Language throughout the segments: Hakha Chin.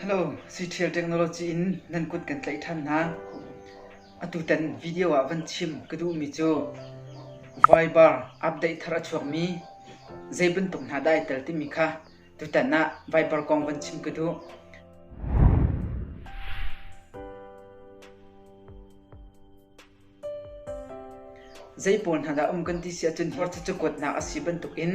Hello, Siṭhial Technology in nan kut kan tlaih ṭhan hna. Atutan video ah van chim ka duhmi cu Viber update thar a chuakmi zei bantuk hna dah ai tel timi kha tutan ah Viber kong van chim ka duh. Zei pawl hna dah a um kan ti si ahcun hi cucu kuatnak a si bantukin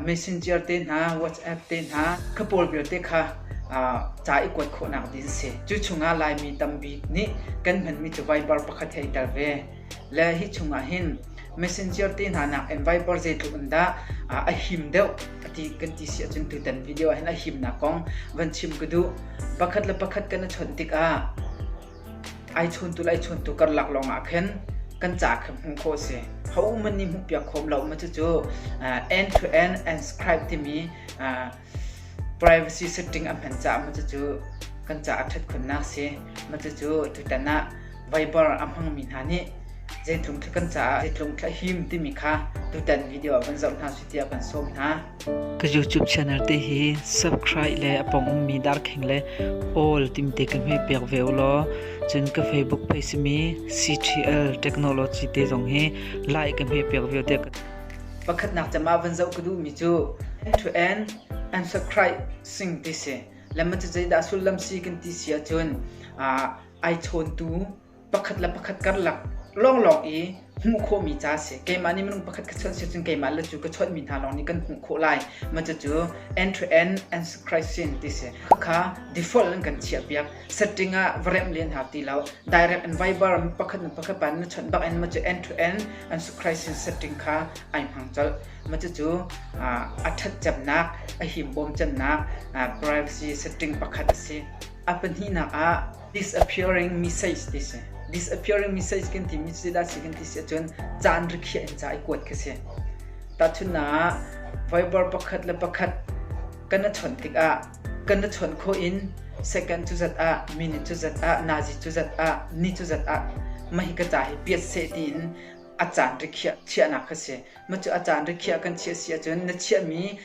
messenger te hna, WhatsApp te hna, kha pawl vialte kha ca i kuat khawhnak ding a si. Cu chungah Laimi tambik nih kan hmanmi cu Viber pakhat hei tel ve. Le hi chungah hin messenger te hna nakin Viber zeitluk in dah a him deuh kan ti si ahcun tutan video ah hin a himnak kong van chim ka duh. Pakhat le pakhat kan i chawnh tikah Ai chuntu le ai chuntu karlak lawng ah khin kan ca khi hmuh khawh a si. Ho uman nih hmuhpiak khawm lo ma cucu end to end unscribe timi privacy setting a hman caah ma cucu kan ca a ṭhat khunnak a si. Ma cucu tutan ah Viber a hmangmi hna nih zeitlung khi kan caah zeitlung khi a him timi kha tutan video ah van zoh hna sih tiah kan sawm hna. Ka YouTube channel te hi subscribe le a pong ummi darkhing le all timte ka hme pek ve u law cun ka Facebook page simi CTL Technology te zong hi like ka hme pek ve te ka pakhatnak chama van zoh ka duhmi cu end to end unsubscribe sing ti si lemma cu zeidah sullam si kan ti sia cun ai chawntu pakhat le pakhat karlak lawnglawng i hmuh khawhmi ca a si. Keimah nih minung pakhat ka chawnh si cun keimah le cu ka chawnhmi hna lawng nih kan hmuh khawh lai. Maw cucu end to end Antichrist sin ti si. Khakha default in kan chiahpiak. Setting ah va remh len hau ti lo. Direct and Viber mi pakhat le pakhat pan na chawnh bak in maw cu end to end Antichrist sin setting kha ai hmang colh. Maw cucu a ṭhat cemnak, a himbawm cemnak privacy setting pakhat a si. A pahnihnak ah Disappearing message ti si. Disappearing message kan timi cu zeidah si kan ti si ahcun caan rikhiah in ca i kuat khi si. Tahchunhnak ah, Viber pakhat le pakhat kan na chawnh tikah kan na chawnh khawh in second cu zat ah, minute cu zat ah, nazi cu zat ah, ni cu zat ah mahi ka ca hi piat seh tiin a caan rikhiah chiahnak khi si. Mah cu a caan rikhiah kan chiah si ahcun na chiahmi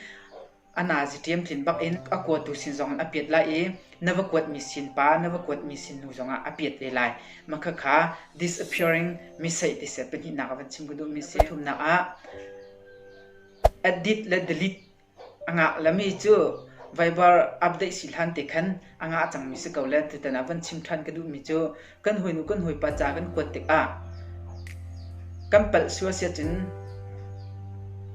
A naziṭiam tlin bakin a kuatu sin zongin a piat lai i na va kuatmi sin pa, na va kuatmi sin nu zongah a piat ve lai. Mah khakha disappearing miseih ti seh pahnihnak ah van chim ka duhmi a si. Pathumnak ah edit le delete a ngah lami cu vaivar update si hlan te khan a ngah cangmi si ko le tutan ah van chim ṭhan ka duhmi cu kan hawinu kan hawipa ca kan kuat tikah kan palh sual si ahcun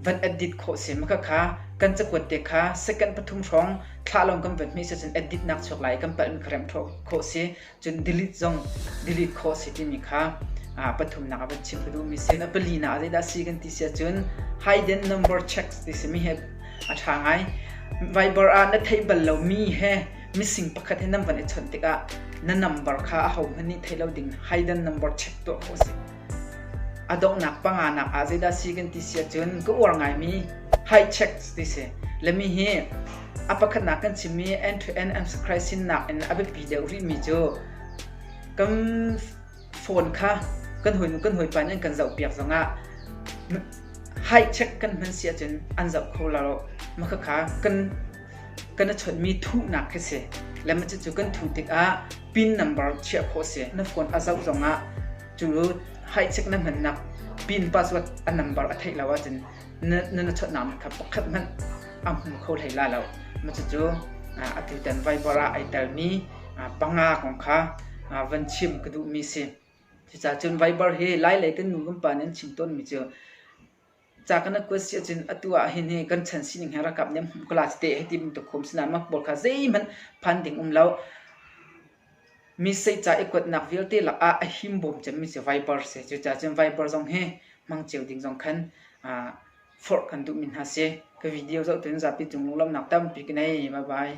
van adit khawh si ma khakha kan cakuat te kha second pathum hrawng thla long kan vat mi si cun edit nak chuak lai kan palh mi kha remh khawh si cun delete zong delete khawh si timi kha pathum nak van chim ka duh mi si na pali na zei dah si kan ti si cun hiden number checks ti si mi he a tha ngai viber ah na thei bal lo mi he Mising pakhat he nan van i chawnh tikah na nambar kha ahohmanh nih thei lo ding haidan nambar check tuah ko si. A donghnak panganak ah zeidah si kan ti si ahcun ka uar ngaimi high checks ti si. Lemi hi a pakhatnak kan chimmi end to end antichrist sinnak in a biapi deuh rihmi cu kan phone kha kan hawi nu kan hawi pa nih an kan zohpiak zongah high check kan hman si ahcun an zoh kho lo. Makhakha kan kan i chawnhmi thuhnak khi si le cucu kan thuh tikah pin number chiah khawh a si. Na phone a zoh zongah cu haihchek na hmannak pin password a number a theih lo ahcun na na chawnhnak kha pakhat hmanh a hmu kho hlei la lo. Cucu atutan Viber ah ai telmi panga kong kha van chim ka duhmi si. Cucacun Viber hi Lai lei kan nu kan pa nih an chim tawnmi cu ca kan rak kuat si ahcun atu ah hin hi kan chan sining he ralkap nih an hmuh ka la tete hei ti bantuk khum sinah mah pawl kha zeihmanh phan ding um lo. Mi seica i kuatnak vialte lakah a him bawm cemmi cu Viper si. Cucaah cun Viper zong hi hmang cio ding zong khan aa forh kan duhmi hna si. Ka video zoh tuin zapi cung lunglawmhnak tampi ka nei. Bye bye.